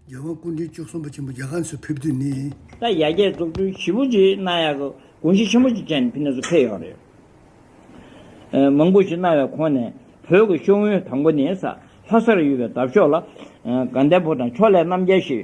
རྒྱལ་དབང་སྐུ་ཕྲེང་བཅུ་གསུམ་པ་ཆེན་པོ་རྒྱ་གར་ནས་ཕེབས་དུས་ནི། ད་ཡ་རྒྱལ་བཙོག་སྤྲུལ་བཞི་པོ་རྗེས་གནང་ཡག་གི་དགོངས་གཞི་ཆེན་པོ་གཅིག་ཅན་ཕི་ནས་སུ་ཕེབས་ཡོག་རེད། མང་པོ་ཞིག་གནང་བའི་ཁོངས་ནས་བོད་ཀྱི་ཤོག་ངོས་དང་པོ་ནི་ས་ལྷ་སར་ཡོད་པའི་འདབ་ཤོག་ལ། དགའ་ལྡན་ཕོ་བྲང་ཕྱོགས་ལས་རྣམ་རྒྱལ་ཞེས་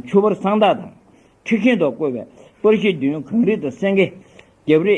ཆུ་བར་གསང་བདག་དང། ཁྲི་ཤིང་ཐོག་བཀོད་པའི་པར་གཞི་བདུན་གངས་རི་དང་སེང་གེ། རྒྱབ་རི།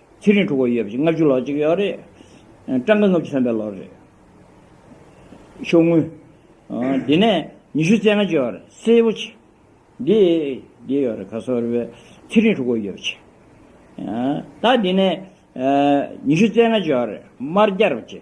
ཚེ་རིང་དྲུག་གོ་ཡོད་པ་ཅིག་ལྔ་བཅུ་ལོག་ཅིག་ཡོད་རེད། སྤྲང་དགའ་ལྔ་བཅུ་ཐོན་པའི་ལོར་རེད། ཤོག་ངུ། དེ་ནས་ཉི་ཤུ་རྩེ་ལྔ་བཅུ་ཡོད་རེད། སེར་པོ་ཆེ། འདི། འདི་ཡོད་རེད་ག་སོགས་རེད་བས། ཚེ་རིང་དྲུག་གོ་ཡོད་པ་ཆེ། ད་དེ་ནས། ཉི་ཤུ་རྩེ་ལྔ་བཅུ་ཡོད་རེད། དམར་སྐྱར་བ་ཆེ།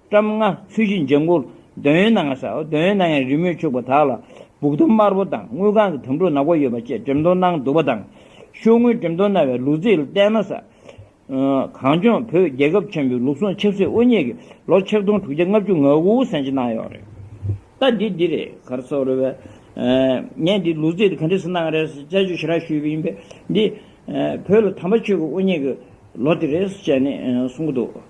བཀྲམ་ལྔ་ཚུལ་བཞིན་འཇམ་མགོར་འདོད་ཡོན་སྣ་ལྔ་བྱའོ། འདོད་ཡོན་སྣ་ལྔའི་རི་མོས་ཕྱུག་པ་དག་ལ། སྦུག་དུམ་དམར་པོ་དང་དངུལ་ཁང་གི་དམ་ཕྲུག་ནག་པོ་ཡོད་པ་བཅས་འགྲེམ་སྟོང་སྣང་བསྡུ་བ་དང། ཤོག་དངུལ་འགྲེམ་སྟོང་སྣ་བའི་ལུག་རྫི་ལ་བསྟན་ན་ས། གངས་ལྗོངས་བོད་རྒྱལ་ཁབ་ཆེན་པོའི་ལུགས་ཟུང་ཆབ་སྲིད་དབུ་བརྙེས་ཀྱི་ལོ་ཆིག་སྟོང་དྲུག་བརྒྱ་ལྔ་བཅུ་ང་དགུ་ཟིན་ཅིག་གནང་ཡོད་རེད། ལྟ་འདི་འདི་རེད་གར་སོགས་རེད་བས། ངས་འདི་ལུག་རྫི་དེ་ག་འདྲས་སུ་གནང་རེད་དཔྱད་བརྗོད་ཞེ་དྲག་ཞུས་པ་ཡིན་པས། འདི། བོད་ལ་དམ་པ་ཆོས་ཀྱི་དབུ་བརྙེས་ཀྱི་ལོ་དེ་རེད་ཅེས་ནས་གསུང་གི་འདུག།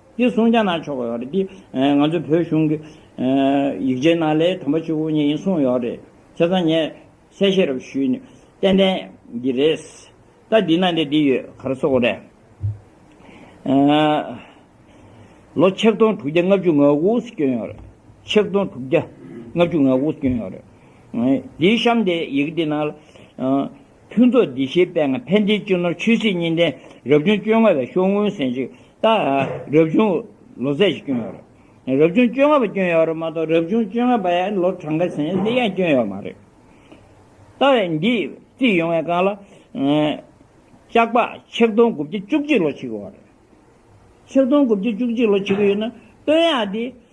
དེ་གསུང་རྒྱ་ནག་ཕྱོགས་ཡོད་རེད་དེ། ང་ཚོའི་བོད་གཞུང་གི། ཡིག་ཆའི་ནང་ལས་དམ་པ་ཆོས་གོ་ནས་ཡིན་གསུངས་ཡོད་རེད། ཁྱེད་ཚང་ངས་གསལ་བཤད་རབ་ཞུས་ནས། ཏན་ཏན། གི་རེད། ད་འདི་ནང་དེ་འདི་ཡོད་གར་སོ་གོ་རེད། ལོ་ཆིག་སྟོང་དྲུག་བརྒྱ་ལྔ་བཅུ་ང་དགུ་སུ་སྐྱོན་ཡོད་རེད། ཆིག་སྟོང་དྲུག་བརྒྱ་ལྔ་བཅུ་ང་དགུ་སུ་སྐྱོན་ཡོད་རེད། འདིའི་གཤམ་དེ་ཡི་གེ་འདི་ནང་ལ། ཕུན་ཚོགས་བདེ་གཤེགས་དཔལ་ངང་ཕན་བདེའི་སྤྱི་ནོར་ཆོས་སྲིད་གཉིས་ལྡན་རབ་བྱུང་བཅོ་ལྔ་བའི་ཤོག་སྔོན་ཟན་ཅིག་བཏགས། རབ་བྱུང་ལོ་ཚད་ཀྱི་སྐྱོན་ཡོད་རེད། རབ་བྱུང་བཅོ་ལྔ་པ་སྐྱོན་ཡོད་རེད་མ་གཏོགས་རབ་བྱུང་བཅོ་ལྔ་པ་ཡང་ལོ་གྲངས་ཀ་ཟན་ཅིག་ཡང་སྐྱོན་ཡོད་མ་རེད། ལྟ་བས་འདི་རྩིས་ཡོང་བའི་སྒང་ལ། ལྕགས་པགས་ཆིག་སྟོང་དགུ་བརྒྱ་བཅུ་གཅིག་ལོ་ཆིག་གི་ཡོད་རེད། ཆིག་སྟོང་དགུ་བརྒྱ་བཅུ་གཅིག་ལོ་ཆིག་གི་ཡོད་ན་སྟོད་གཡག་འདི